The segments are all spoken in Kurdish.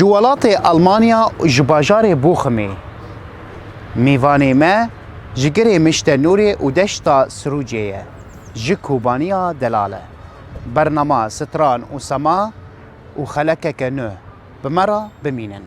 Ji welatê Elmanya û ji bajarê Bochimê mêvanê me ji girê Mişte Nûrê û deşta Sirûcê ye ji Kobaniya delal e. Bernama Stran û Sema û xelekeke nû bi me re bimînin.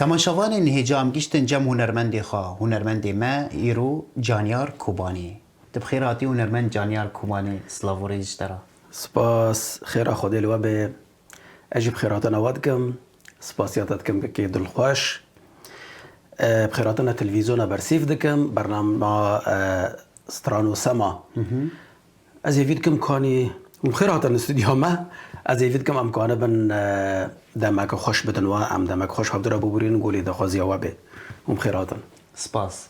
Temaşevanên hêcam giştin cem hunermendê xwe, hunermendê me îro Canyar Kobanî. Tu bi xêr hatî hunermend Canyar Kobanî, silav û rêz ji te re. Spas, xêra Xwedê li we be. Ez jî bi xêratina we dikim. Spasiya te dikim kekê dilxweş. Bi xêratina televîzyona bersîv dikim bernama Stran û Sema. Ez hêvî dikim kanî hûn bi xêr hatin studyoya me. Ez hêvî dikim em kane bin demeke xweş bidin we. Em demek xweş hevdû re bibûrînin golê daxwaziya we bê. Hûn bi xêr hatin. Spas.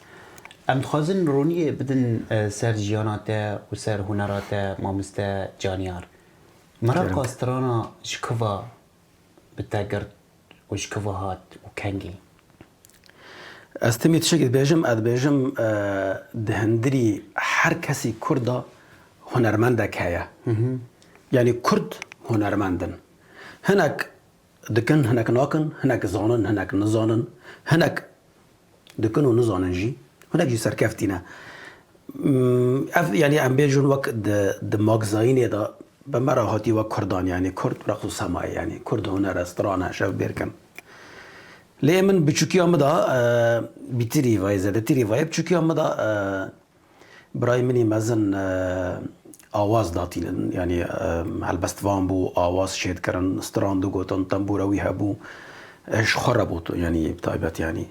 Em dixwazin ronîyê bidin ser jiyana te û ser hunera te mamoste Caniyar. Meraka strana ji ku ve bi te girt û ji ku ve hat û kengî? Ez timî tişekî dibêjim, ez dibêjim di hindirî her kesî kurd de hunermendek heye. Yanî kurd hunermend in. Hinek Dikin, hinek nakin, hinek zanin, hinek nizanin, hinek dikin û nizanin jî, hinek jî serkeftî ne. Ev yanî em bêjin wek di di magzayînê de bi me re hatî wek kurdan yanî kurd reqs û sema ye yanî kurd huner e, stran e, şevbêrkin. Lê min biçûkiya min de bîtirî vayê zedetirî vayê biçûkiya min de Birayê min î mezin awaz datînin. Yanî helbest van bû awaz şêd kirin, stran digotin, tembûra wî hebû. Ev ji xwe re bû yanî bi taybet yanî.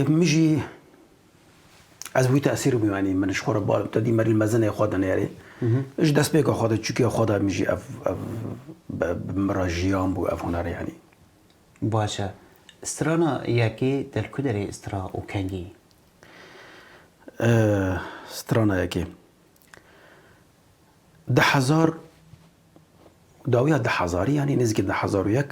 Min jî ez wî tesîr bûm yanî min ji xwe re bar. Tu dî merîl mezinê xwe dinêrî. Ji destpêka xwe de çûkê xwe de min jî ev bi min re jiyan bû ev huner yanî. Baş e. Strana yekê telkuderê stra û kengî. Strana yekê Di hezar dawiya di hezarî yanî nêzîkî di hezar û yek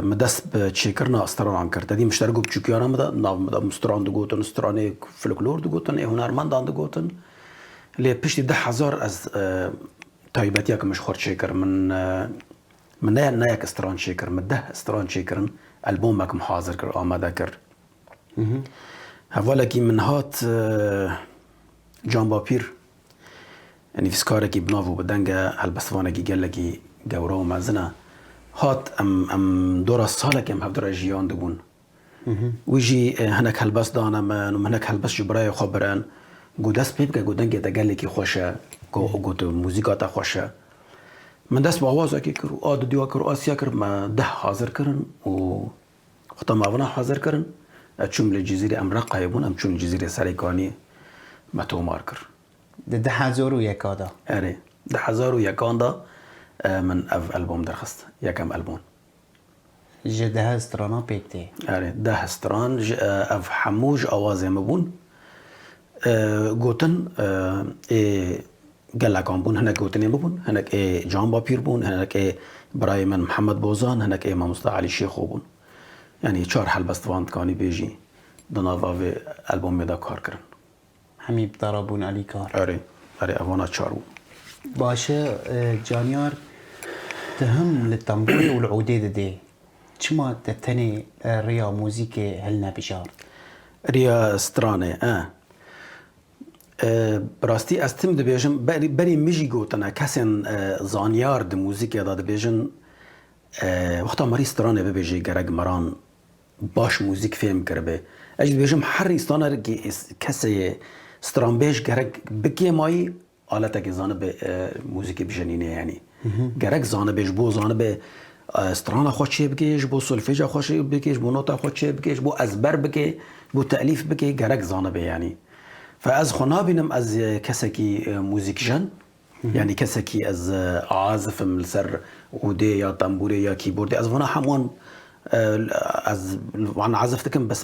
min dest bi çêkirina stranan kir. Tedî min ji ber ku biçûkiyana min de nav min de min stran digotin, stranê folklor digotin ê hunermendan digotin. Lê piştî di hezar ez taybetiyeke min ji xwe re çêkir. Min Min ne neyek stran çêkir, min deh stran çêkirin, elbomek min hazir kir, amade kir. Hevalekî min hat Can Bapîr, nivîskarekî bi nav û bi deng e, helbestvanekî gelekî gewre û mezin e. Hat em em dora salekê em hevdora jiyan dibûn. Wî jî hinek helbest dane min û min hinek helbest ji birayê xwe birin. Got dest pê bike, got dengê te gelekî xweş e, got muzîka te xweş e. Min dest bi awazekê kir û a dudya kir û a siya kir. Me deh hazir kirin û xwe ta mavina hazir kirin. Ez çûm li Cizîrê, em Reqayê bûn, em çûn li Cizîrê serê kanî me tomar kir. Di du hezar û yeka de? Erê, du hezar û yekan de min ev elbom derxist, yekem elbom. Ji dehe stranan pêk tê. Erê, deh stran ji ev hemû ji awazên min bûn. Gotin ê gelekan bûn, hinek gotinên min bûn, hinek ê Can Bapîr bûn, hinek ê birayê min Mihemed Bozan, hinek ê Mamosta Elî Şêxo bûn. Yanî çar helbest van dikanî bêjî di nava vê elbomê de kar kirin. Hemî bi dara bûn Elî Kar. Erê, erê ev wana çar bû. Baş e Caniyar, tu him li temborê û li udê didê. Çima te tenê riya muzîkê hilnebijart? Riya stranê e. Bi rastî ez tim dibêjim, berê min jî gotine kesên zanyar di muzîkê de dibêjin, wexta merî stranê bibêjê gerek meran Baş mûzîk fêm kiribê. Ez dibêjim her rîstaner kî kesê yê stranbêj gerek bikêmayî aletekê zanibê mûzîkê bijenînê yanî. Gerek zanibê ji bo zanibê strana xwe çêbikê, ji bo solfêja xwe çêbikê, ji bo nota xwe çêbikê, ji bo ezber bikê, ji bo telîf bikê gerek zanibê yanî. Fe ez xwe nabînim ez kesekî mûzîkjen. Yanî kesekî ez azif im li ser ûdê ya tembûrê ya kîbordê ez vana heman ez wan azif dikim bes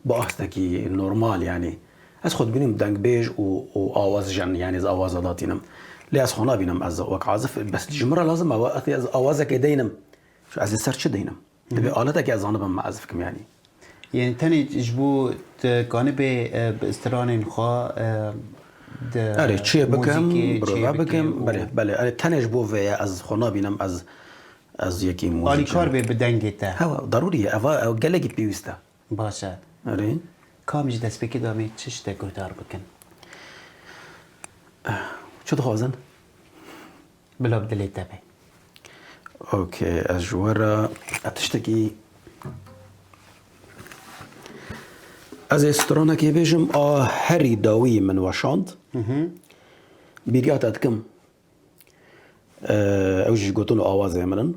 bi astekî normal yanî ez xwe dibînim dengbêj û awazjen yanî ez awaza datînim. Lê ez xwe nabînim ez wek azif bes ji min re lazim e wek ez awazekê deynim ez li ser çi deynim. Divê aleteke ez anibim me ez dikim yanî. Yanî tenê ji bo tu kanibê bi stranên xwe di Erê çê bikim, birove bikim, belê, belê, erê tenê ji bo vê ye ez xwe nabînim ez ez yekî muzîkçi. Alîkar bê bi dengê te. Hewa darûrî ye eva ew gelekî pêwîst e. Baş e. Erê. Ka min ji destpêkê de em ê çi şte guhdar bikin? Çi dixwazin? Bila bi dilê te be. Ok ez ji we re ez tiştekî Ez ê stranekê bêjim a herî dawî min weşand. Bîriya te dikim. Ew jî gotin û awazê min in.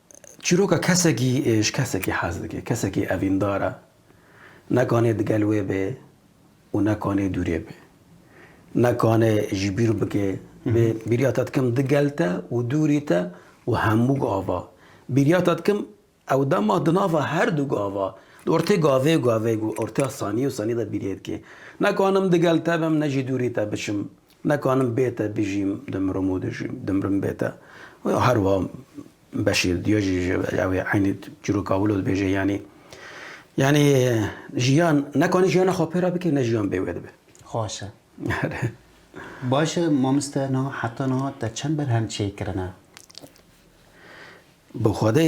Çîroka kesekî ji kesekî hez dike. Kesekî evîndar e, ne kanê digel wê bê û ne kanê dûrê bê. Ne kanê ji bîr bike, bê bîriya te dikim digel te û dûrî te û hemû gava. Bîriya te dikim ew dema di nava her du gava, di ortê gavê gavê û ortê sanî û sanî de bîrê dike. Ne kanim digel te bim ne jî dûrî te biçim. Nikanim bête bijîm, dimrim û dijîm, dimrim bête. Wê her wiha Beşîr diya jî ji ew ê eynî çîroka wilo dibêje yanî yanî jiyan nekanî jiyana xwe pê re bikê ne jiyan bê wê dibe. Xweş e. Baş e mamoste niha heta niha te çend berhem çêkirine? Bi xwedê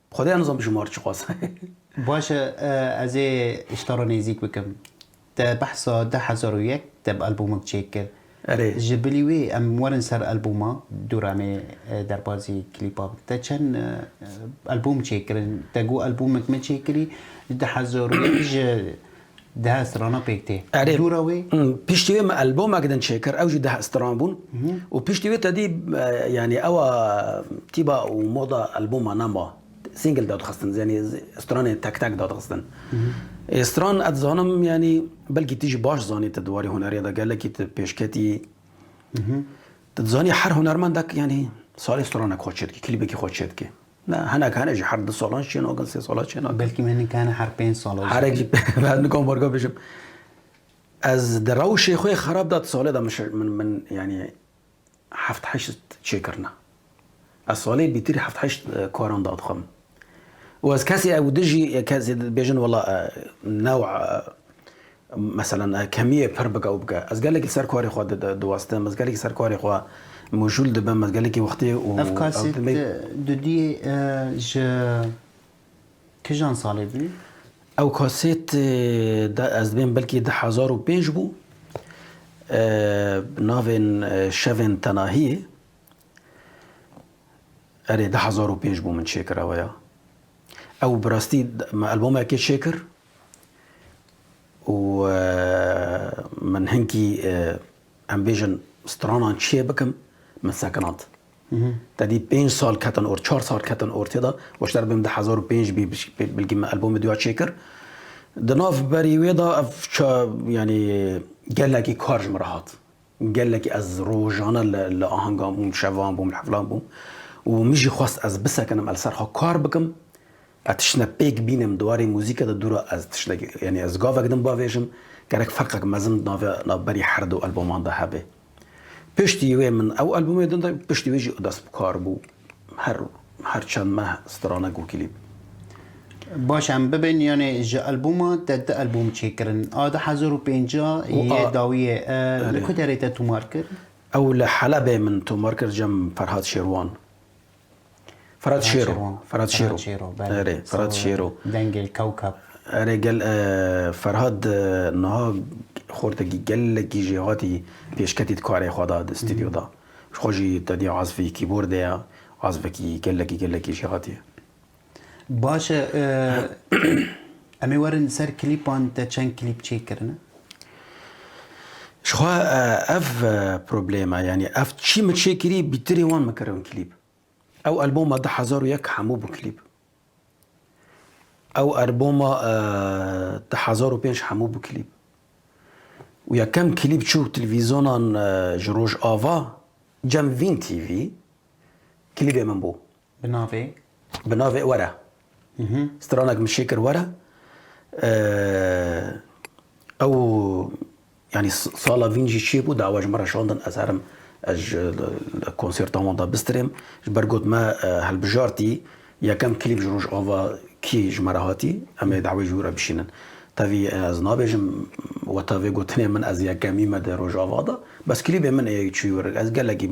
Xwedaya nizam bi jimar çi xwest. Baş e, ez ê ji te re nêzîk bikim. Te behsa du hezar û yek de bi albûmik çêk kir. Erê. Ji bilî wê em werin ser albûma Du Remê derbazî klîpa bikin. Te çend albûm çêk kirin? Te got albûmik min çêk kirî du hezar û yek ji Dehe strana pêk tê. Erê, Dûra wê? piştî wê min elbomek din çêkir, ew jî dehe stran bûn û piştî wê tedî yanî ew a tîba û moda elboma ne ma. Single dadixistin, yanî stranên tek tek dadixistin. Ê stran ez dizanim yanî belkî tu jî baş zanî tu di warê huneriya de gelekî tu pêşketî. Tu dizanî her hunermendek yanî salê stranek xwe çêdikê, klîbekî xwe çêdikê. Na, hinek hene jî her du salan jî çênakin, sê salan çênakin. Belkî me hinek hene her pênc salan jî. Herek jî ez nikom barka bijim. Ez di rewşê xwe yê xerab de di salê de min min yanî heft heşt çêkirina. Ez salê bîtirî heft heşt karan dadixwe min. Û ez kesê ew di jî kesê dibêjin wela new Meselan kemiyê pir bike û bike. Ez gelekî li ser karê xwe diwastim, ez gelekî li ser karê xwe mûjûl dibim, ez gelekî wextê û Ev kaset dudiyê ji kijan salê bû? Ew kaset ez dibêhim belkî di hezar û pênc bû. Bi navên Şevên Tenahiyê. Erê di hezar û pênc bû min çêkirawe ya. Ew bi rastî me elbomekê çêkir. Û min hinkî em bêjin stranan çiyê bikim min sekinand. Te dît pênc sal ketin or çar sal ketin or têda weşter bim du hezar û pênc bî bilkî min albomê duya çêkir. Di nav berî wê de ev yanî gelekî kar ji min re hat. Gelekî ez rojane li ahengan bûm, şevan bûm, li hevilan bûm û min jî xwest ez bisekinim li ser xwe kar bikim Ez tiştine pêk bînim di warê muzîke de dûra ez tiştek yanî ez gavek din bavêjim gerek ferqek mezin di navê navberî her du elboman de hebe. Piştî wê min ew elbomê din de piştî wê jî dest bi kar bû her her çend meh strana ku klîp. Baş em bibin yanê ji elboma te du elbom çêkirin a du hezar û pêncî yê dawî yê li ku derê te tomar kir? Ew li Helebê min tomar kir cem Ferhad Şêrwan. Ferhat Şêro. Ferhat Şêro. Erê, Ferhat Şêro. Dengê Kewkab. Erê gel Ferhat niha xortekî gelekî jî hatî pêşketî di karê xwe de di stûdyo de. Xwe jî tedî azfî kîbordê ye, azfekî gelekî gelekî jî hatî ye. Baş e em ê werin ser klîpan te çend klîp çê kirine? Jixwe ev problema yanî ev çî min çê kirî bîtirê wan min kirin klîp. Ew alboma du hezar û yek hemû bû klîp. Ew alboma du hezar û pênc hemû bû klîp. û yekem klîp çû televîzyonan ji Rojava Cem Vîn TV klîbê min bû. Bi navê. Bi navê were. Stranek min şêkir were. Ew yanî sala vîn jî çêbû dawa ji min re şandin ez herim ez ji konserta wan de bistirêm. Ji ber got me hilbijartî yekem klîp ji Rojava kî ji me re hatî em ê dawayê ji wî re bişînin. Tevî ez nabêjim we tevê gotinê min ez yekemî me di Rojava de. Bes klîbê min ê çûyî wir. Ez gelekî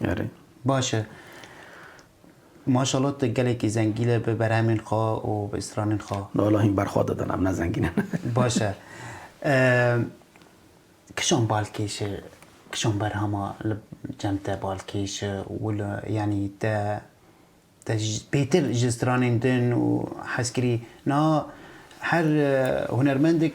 Erê. Baş e. Maşallah tu gelekî zengîn e bi berhemên xwe û bi stranên xwe. Wala hîn berxwe didin em ne zengîn in. Baş e. Kişan balkêş e, kişan berhama li cem te balkêş e û li yanî te te pêtir ji stranên din û hez kirî niha her hunermendek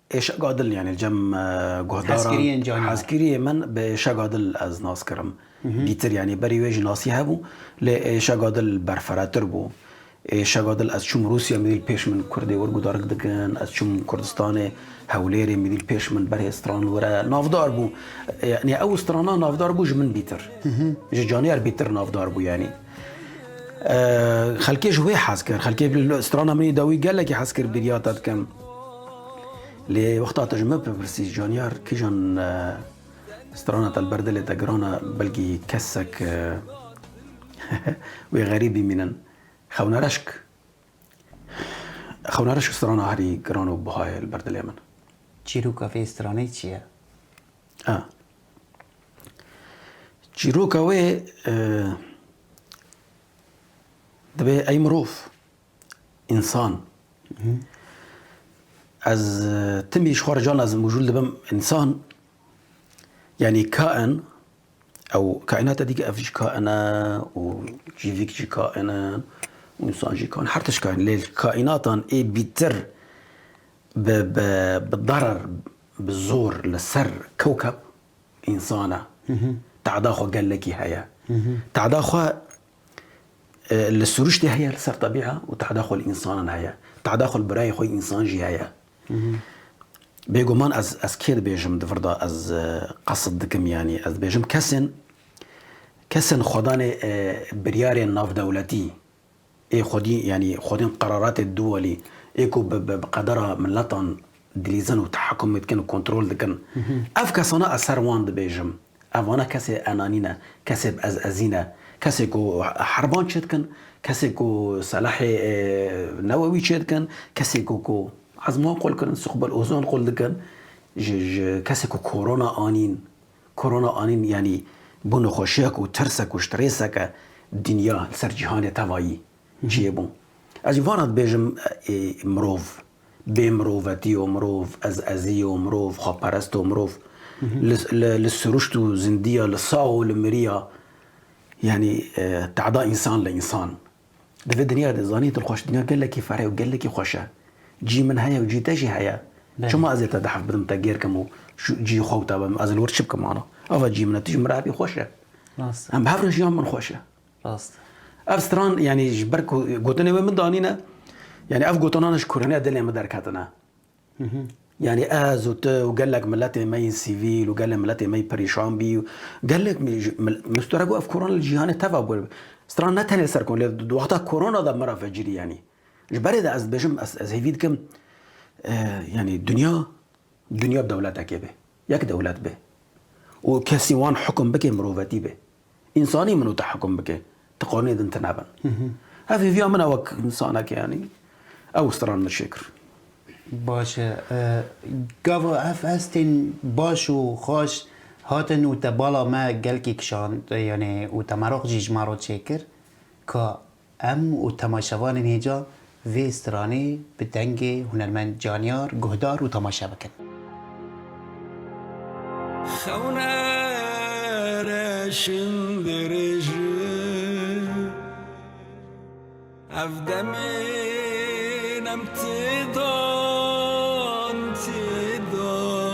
Êşeg Adil yanî cem guhdaran hezkiriyê min bi Êşeg Adil ez nas kirim. Dîtir yanî berî wê jî nasî hebû lê Êşeg Adil berfiretir bû. Êşeg Adil ez çûm Rûsya mîdîl pêş min kurdê wir gudarg dikin, ez çûm Kurdistanê Hewlêrê mîdîl pêş min berê stran wire navdar bû. Yanî ew strana navdar bû ji min bîtir. Ji caniyar bîtir navdar bû yanî. Xelkê ji wê hez kir. Xelkê strana min ê dawî gelekî hez kir bêriya te dikim. Lê wexta te ji min bipirsî caniyar kîjan strana te li ber dilê te giran e belkî kesek wê xerîb bîmînin. Xewna reşk Xewna reşk strana herî giran û buha ye li ber dilê min. Çîroka vê stranê çi ye? Çîroka wê divê ey mirov, însan. Ez timî ji xwe re can ez mijûl dibim însan yanî kain ew kaînata dî ev jî kain e û cîvîk jî kain e û însan jî kain e her tişt kain e lê kaînatan ê bîtir Bi bi darar bi zor li ser kewkeb însan e. Te'da xwe gelekî heye. Te'da xwe li siruştê heye li ser tebîa û te'da xwe li însanan heye. Te'da xwe li birayê xwe însan jî heye. Bêguman ez ez kê dibêjim di vir de ez qesid dikim yanî ez dibêjim kesên kesên xwedanê biryarên navdewletî, Ê xwedî yanî xwedîn qeraratê Dûwalî ê ku bi bi qedera miletan dilîzin û tehekumê dikin û kontrol dikin. Ev kesana ez ser wan dibêjim. Ev vana kesê enanî ne, kesê bi ez ezî ne. Kesê ku herban çê dikin, kesê ku selahê newewî çê dikin, kesê ku ku ezman qul kirin, suqbel ozon qul dikin, ji ji kesê ku korona anîn. Korona anîn yanî bû nexweşiyek û tirsek û strêsek e dinya li ser cîhanê tevayî ciyê bû. Ez jî vana dibêjim ê mirov, bê mirovetiy o mirov, ez eziy o mirov, xweperest o mirov li siruşt û zindiya li sax û li miriya yanî te'da însan li însan Di vê dinya de zanî dilxweş dinya gelekî fereh û gelekî xweş e. Cî min heye û cî te jî heye. Çima ez ê te dehf bidim, te gêr kim û cî xwe wita bim? Ez li wir çi bikim wano? Ava cî min e, tu jî min re hebî xweş e. Em bi hev re jiyan bin xweş e. Rast e. Ev stran yanî ji ber ku gotinê wê min danîne, yanî ev gotinane ji kurhiniya dilê min derketine. Yanî ez û tu û gelek miletên me yên sîvîl û gelê miletên me yî perîşan bî û gelek min stora got ev korona li cîhanê teva bû. Stora ne tenê ser korona lê di wexta korona de min re vecirî yanî. Ji berê de ez dibêjim ez hêvî dikim yanî dinya dinya dewletekê bê. Yek dewlet bê û kesî wan hukum bike mirovetî bê. Însanî min û te hikum bike. Ti qanûnê din tune bin. Ev hêviya min e wek însaneke yanî. Ew stran min çêkir. Baş e. Gava ev hestên baş û xweş hatin û te bala me gelkî kişand yanî û te meraq jî ji me re çêkir ka Em û temaşevanên hêja vê stranê bi dengê hunermend Caniyar guhdar û temaşe bikin. Xewne reşim dirêji ev demên em têdan têdan.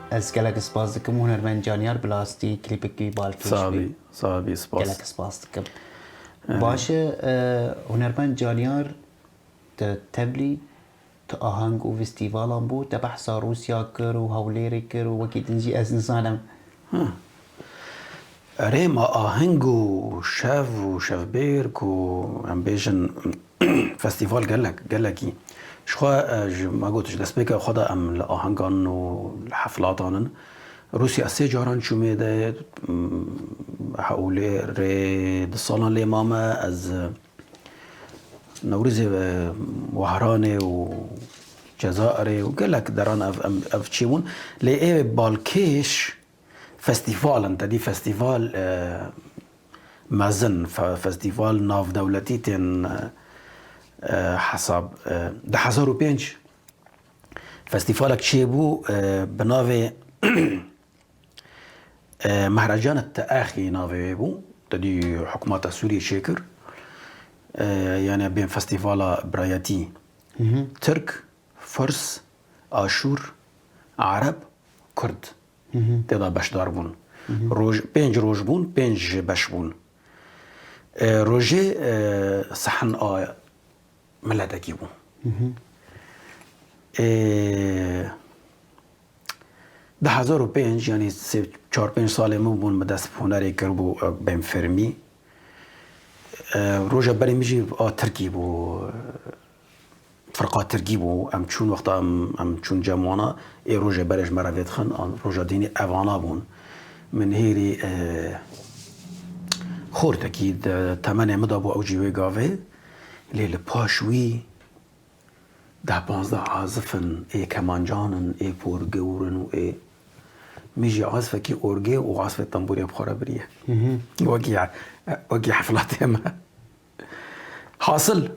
Ez gelek spas dikim hunermend Caniyar Bilastî klîpek wî bal kêş bê. Saxbî saxbî spas. Gelek spas dikim. Baş e hunermend Caniyar di teblî di aheng û vîstîvalan bû te behsa Rûsya kir û Hewlêrê kir û wekî din jî ez nizanim. Erêma aheng û şev û şevbêr ku em bêjin festîval gelek gelekî ji xwe ji ma got ji destpêka xwe de em li ahengan û li heflatan in. Rûsya sê caran çûmê de Hewlê rê du salan lê mame ez Newrûzê Wehranê û Cezaerê û gelek deran ev ev çêbûn lê ê balkêş Festîval in tedî festîval mezin, festîval navdewletî tên hesab. Di hezar û pênc festîvalek çêbû bi navê Mehrecan Te'exî navê wê bû, tedî hikûmeta Sûriyê çêkir. Yanê bên festîvala birayetî Tirk Furs, Aşûr, Ereb, Kurd tê de beşdar bûn. Roj pênc roj bûn, pênc ji beş bûn. Rojê sehn a miletekî bû. Ê di hezar û pênc yanî sê çar pênc salê min bûn min dest bi hunerê kir bû bên fermî. Roja berê min jî a tirkî bû. Firqatirgî bû. Em çûn wexta em em çûn cem wana ê rojê berê ji me re vêdixin an roja dînê evana bûn. Min hêrî e, xortekî di temenê min de bû ew jî wê gavê lê li paş wî deh panzdeh azif in ê kemancan in ê porgewr in û ê min jî azifekî orgê û azifê tembûrê bi xwe re biriye. Wekî wekî heflatê me. Hasil,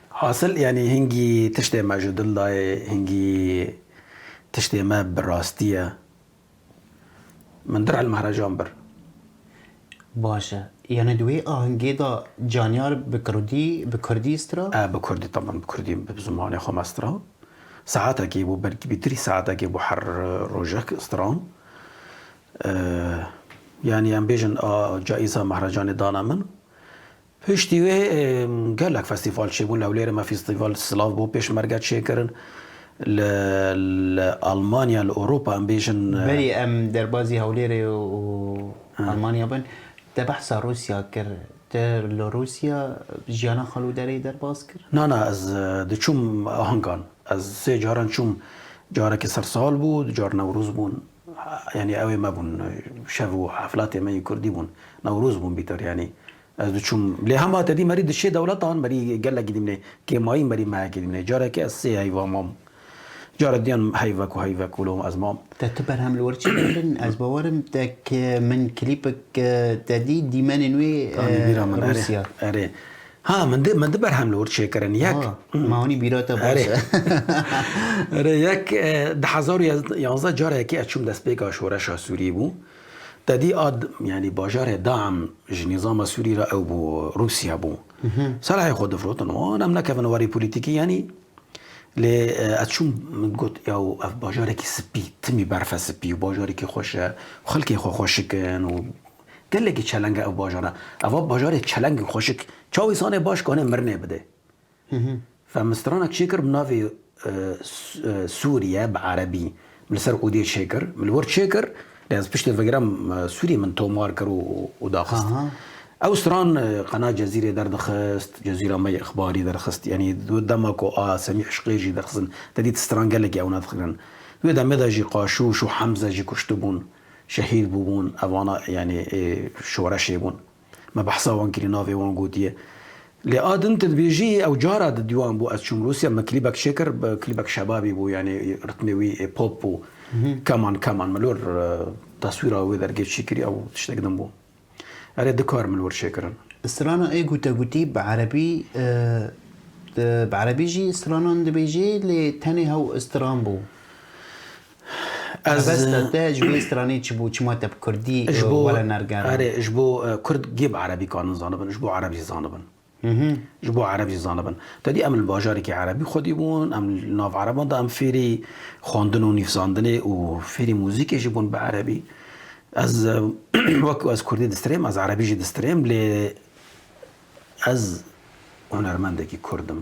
hasil yanî hingî tiştê me ji dil dayê, hingî tiştê me bi rastî ye. Min dir hilmehrejan bir. Baş e. Yanî di wê ahengê de caniyar bi kirdî, bi kurdî stira? E, bi kurdî taban, bi kurdî bi zimanê xwe me stira. Saetekê bû, belkî bi trî saetekê bû her rojek stiram. Yanî em bêjin a caîza mehrecanê dana min. Piştî wê gelek festîval çêbûn li Hewlêrê me fîstîval Silav bo Pêşmerge çêkirin li li Almanya li Ewropa em bêjin. Berê em derbazî Hewlêrê û Almanya bin te behsa Rûsya kir te li Rûsya jiyana xal û derê derbaz kir? Na na ez diçûm ahankan ez sê caran çûm carekî sersal bû du car Newrûz bûn. Yanî ew ê me bûn. Şev û heflatê me yê kurdî bûn. Newroz bûn bîtor yanî. Ez diçûm. Lê hema te dî merî dişê dewletan merî gelekî dîmnê. Kêmayî merî mehekê dîmnê. Carekê ez sê heyva mam. Care diyan heyvek û heyvek wilo ez mam. Te tu berhem li wir çi kirin? Ez bawer im te ke min klîpek te dî dîmenên wê Rûsya. Erê. Ha min di min di berhem li wir çêkirin yek. Ma hûnî bîra te baş e. Erê yek di hezar û yanzdeh carekê ez çûm destpêka şoreşa Sûrî bû. Te dî a yanî bajarê Dam ji nîzama Sûrî re ew bû Rûsya bû. Selahê xwe difirotin wan em nekevin warê polîtîkî yanî lê ez çûm min got yaw ev bajarekî spî timî berf e spî û bajarekî xweş e û xelkê xwe xweşik in û Gelekî çeleng e ev bajar e. Eva bajarê çeleng in xweşik. Çaw îsanê baş kanê mirinê bidê. Femistranek çêkir bi navê Sûriye bi erebî li ser odê çêkir. Min li wir çêkir lê ez piştê vegire Sûriyê min tomar kir û daxist. Ew stran qena Cezîrê derdixist, Cezîra me yê ixbarî derxist. Yanî di dema ku a Semî Îşqê jî derxistin te dît stran gelekî ewna dikirin. Di wê demê de jî Qaşûş û Hemze jî kuştibûn. Şehîd bûbûn ev vana yanî ê şoreşê bûn. Me behsa wan kirî navê wan gotiye. Lê a din tu dibêjî ew cara di dîwan bû ez çûm Rûsya me klîbek çêkir klîbek şebabî bû yanî ritmê wî ê pop bû. Keman keman milor taswîra wê dergê çîkirî ew tiştek din bû. Erê du kar min wir çêkirin. Strana ê gotegotî bi erebî bi erebî jî stranan dibêjê lê tenê hew stran bû. Erebesta te ji vê stranê çi bû? Çima te bi kurdî were nergera? Erê ji bo kurd gê bi erebî kanin zanibin, ji bo ereb jî zanibin. Ji bo ereb jî zanibin. Te dî em li bajarekî erebî xwedî bûn, em li nav ereban de em fêrî xwendin û nîvzandinê û fêrî muzîkê jî bûn bi erebî. Ez wekî ez kurdî distirêm, ez erebî jî distirêm lê ez hunermendekî kurd im.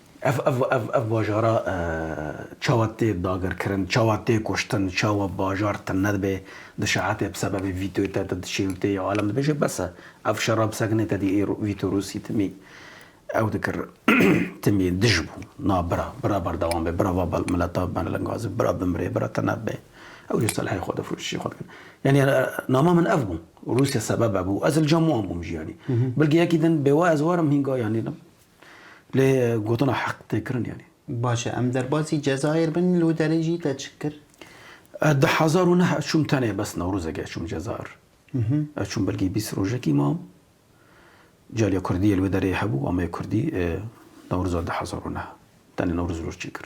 Ev ev ev ev bajara çawa tê dagirkirin, çawa tê kuştin, çawa bajar tune dibe, di şeetê bi sebebê vîtoyê te te diçî û tê ya alem dibêje bes e. Ev şera bi sekinê te dî êro vîto Rûsî timî ew dikir timî dij bû. Na bira, bira berdewam be, bira va mileta belengazin, bira bimire, bira tune bibe. Ew jî selehê xwe difrûşin, çî xwe dikin. Yanî nama min ev bû. Rûsya sebebe bû. Ez li cem wan bûm jî yanî. Bilkî yekî din bêwa ez warim hîn ga yanî. Lê gotina heq tê kirin yanî. Baş e, em derbasî Cezayir bin li Hutelê jî te çi kir? Di hezar û neh çûm tenê bes Newrozekê çûm Cezayir. Çûm belkî bîst rojekî mam. Caliya Kurdî yê li wê derê hebû, ameye Kurdî. Newroza di hezar û neh tenê Newroz roj çêkir.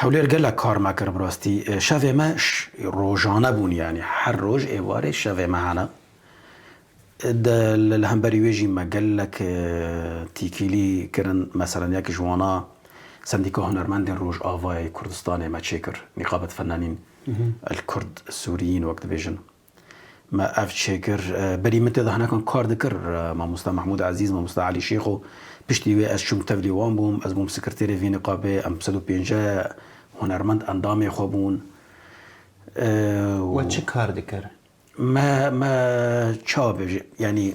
Hewlêr gelek kar me kir bi rastî. Şevê me rojane bûn yanî her roj êvarê şevê me hene. Di li hemberî wê jî me gelek tîkîlî kirin. Meselen yek ji wan a Sendîka Hunermendên Rojavayê Kurdistanê me çêkir. Nîqabet fennanîn el-Kurd Sûriyîn wek dibêjin. Me ev çê kir. Berî min tê de hinekan kar dikir. Mamosta Mehmûd Ezîz, Mamosta Elî Şêx û piştî wê ez çûm tevlî wan bûm. Ez bûm sekirtêrê vî niqabê. Em sed û pênceh hunermend endamê xwe bûn. We çi kar dikir? Me me çawa bêjim, yanî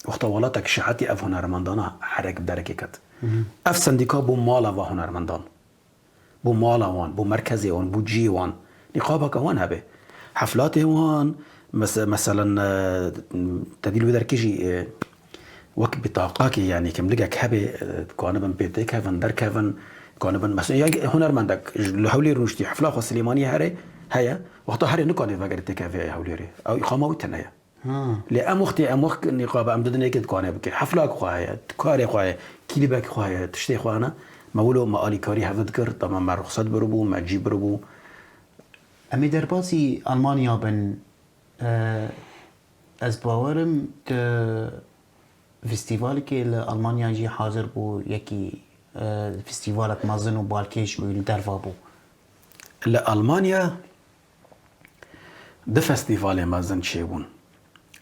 wexta welatek şehetî ev hunermendan a herek bi derekê ket. Ev sendîka bû mala va hunermendan. bo mala wan, bo merkezê wan, bo cihê wan nîqabeke wan hebe. Heflatê wan meselen tevî li wê derkê jî wek bîtaqakê yanî kimligek hebe dikanibin pê têkevin, derkevin, dikanibin meselen ya hunermendek li Hewlêr rûniştî hefla xwe Silêmaniyê here heye, wexta herê nikane vegere têkeve Hewlêrê. Ew îqama wî tune ye. Lê em wextê em wek nîqab em didin êkê dikare bike. Heflak xwe heye, karê xwe heye, klîbek xwe heye, tiştê xwe hene. Me wilo me alîkarî hev dikir, dema me ruxsat biribû, me cî biribû. Em ê derbasî Elmanya bin. Ez bawer im tu festîvalekê li Elmanya jî hazir bû, yekî festîvalek mezin û balkêş bû li derve bû. Li Elmanya Du festîvalên mezin çêbûn.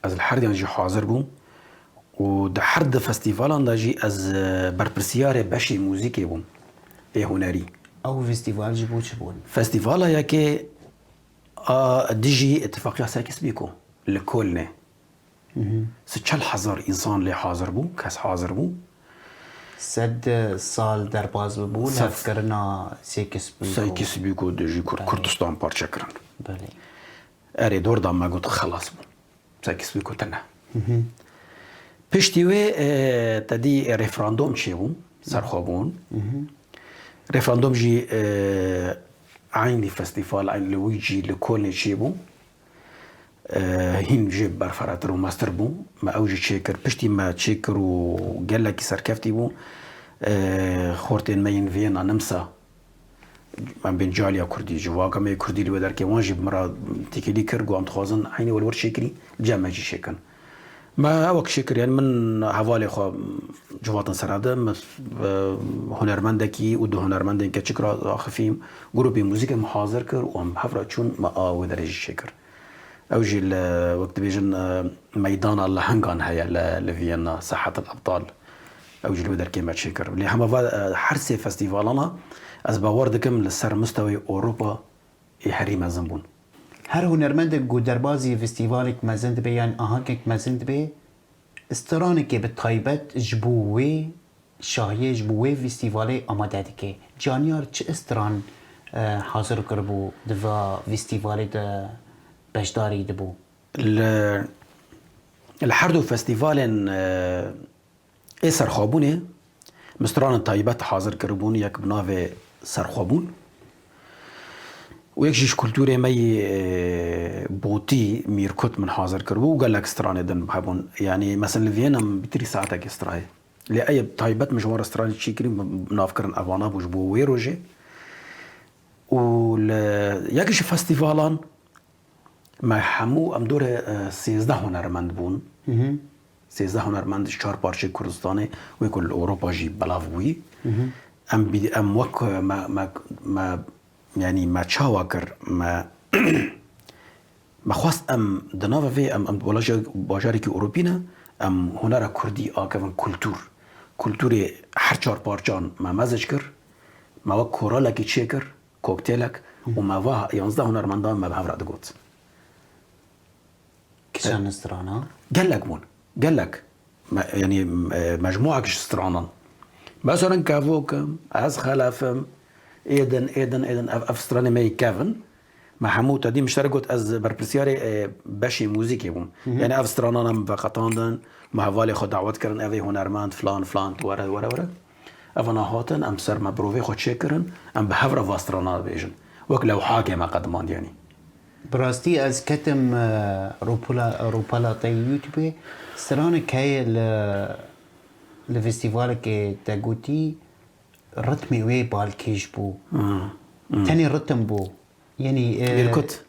Ez li her diyan jî hazir bûm û di her du festîvalan de jî ez berpirsiyarê beşê muzîkê bûm ê hunerî. Ew festîval jî bo çi bûn? Festîvala yekê a dijî Îtîfaqiya Sykes-Pîko li Kölnê Si çel hezar însan lê hazir bû, kes hazir bû. Sed sal derbaz bû levkirina Sêkisbîko. Sêkisbîko dijî Kurd Kurdistan parçe kirin. Belê. Erê dor da me got xelas bûn. Sêkisbîko tune. Piştî wê tedî referandom çêbû ser xwe bûn. Referandom jî eynî festîfal eynî li Wîcî li Kolnê çêbû. Hîn jê berferatir û meztir bû. Me ew jî çêkir. Piştî me çêkir û gelekî serkeftî bû. Xortên me yên Viyena, Nimsa, em bên caliya Kurdî, civaka me yê Kurdî li wê derkevin wan jî min ra têkilî kir. Got em dixwazin eynî wek li wir çêkirî cem me jî çêkin. Me ew kişî kir yani min hevalê xwe civatin serevde min hunermendekî û du hunermendên keçik ra axifîm. Grûpê muzîkê min hazir kir û em hev ra çûn me a wê derê jî çêkir. Ew jî li wek dibêjin meydana lehengan heye li Vîyenna Sahat El Ebdal ew jî li wê derkê me çêkir. Lê hema va her sê festîvalan a ez bawer dikim li ser misteweyê Ewropa yê herî mezin bûn. Her hunermendek ku derbazî festîvalek mezin dibe yan ahangek mezin dibe, stranekê bi taybet ji bo wê şahiyê, ji bo wê festîvalê amade dike. Caniyar çi stran hazir kiribû di va festîvalê de beşdarî dibû? Li herdu festîvalên Ê serxwebûnê mistranan taybet hazir kiribûn yek bi navê Serxwebûn û yek jî ji kultûrê me yê Botî, Mîrkut min hazir kiribû û gelek stranê din hebûn. Yanî meseln li Viyena min bi trî saetekê strayê. Lê eyê taybet min ji wan re stranê çî kirî navkirin evana bû ji bo wê rojê û li yek ji festîvalan Me hemû em dûrê sêzdeh hunermend bûn. Sêzdeh hunermend ji çar parçeyê Kurdistanê wê ku li Ewropa jî belav bûyî. Em em wek me me me yanî me çawa kir me me xwest em di nava vê em em wela bajarekî Ewropî ne em hunera Kurdî akevin kultûr. Kultûrê her çar parçan me mezc kir. Me wek koralekî çêkir. Koktêlek û me weha yanzdeh hunermendan me bi hev re digot. Kisa min strana? Gelek bûn. Gelek. Me yanî mecmûek ji stranan. Me serin kevok im, ez xelef im, êdin, êdin, êdin ev ev stranê me yê kev in. Me hemû tedî min ji te re got ez berpirsiyarê beşê mûzîkê bûm. Yanî ev stranan em veqetandin, me hevalê xwe dawet kirin ev ê hunermend filan filan tu were were were. Ev na hatin, em ser me birovê xwe çêkirin, em bi hev re va strana dibêjin. Wek lewhakê me qedimandiyenî. Bi rastî ez ketim rûpelateyê Youtubê, stranek heye li li festîvalekê te gotî ritmê wê balkêş bû. Tenê ritim bû. Yenî Mîrkut.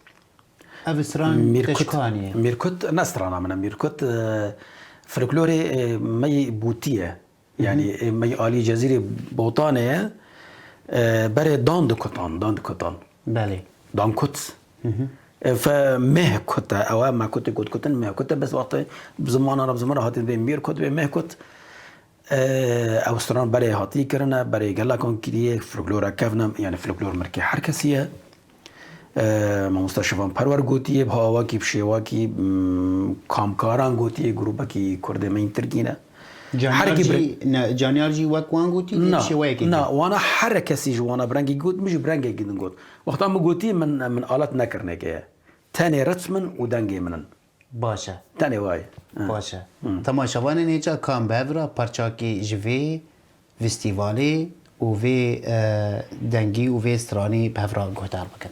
Ev stran te ji ku anî ye? Mîrkut ne strana min e. Mîrkut folklorê me yî gotî ye. Yanî me yê alî Cezîrê Botanê ye berê dan dikutan, dan dikutan. Belê. Dan kut. Ev meh kut e, ew e me kutê kut kutin meh kut e bes wextê bi ziman arab ziman hatî vê mîr kut vê meh kut. Ew stran berê hatî kirine, berê gelakan kirîye, folklora kevna yanî folklor mirkê her kesî ye. Mamosta Şevan Perwer gotiye, Biha Awakî bi şêwakî kamkaran gotiye grûpekî Kurdê me yên Tirkî ne. Caniyar jî wek wan gotî dê bi şêweyekê. Na, wana here kesî ji wana bi rengekî got, min jî bi rengekî din got. Wexta min gotiye min alet nekirneke ye. Tenê ritm in û dengê min in. Baş e. Tenê wa ye. Baş e. Temaşevanên hê ca kan bi hev re parçakî ji vê fîstîvalê û vê dengî û vê stranî bi hev re guhdar bikin.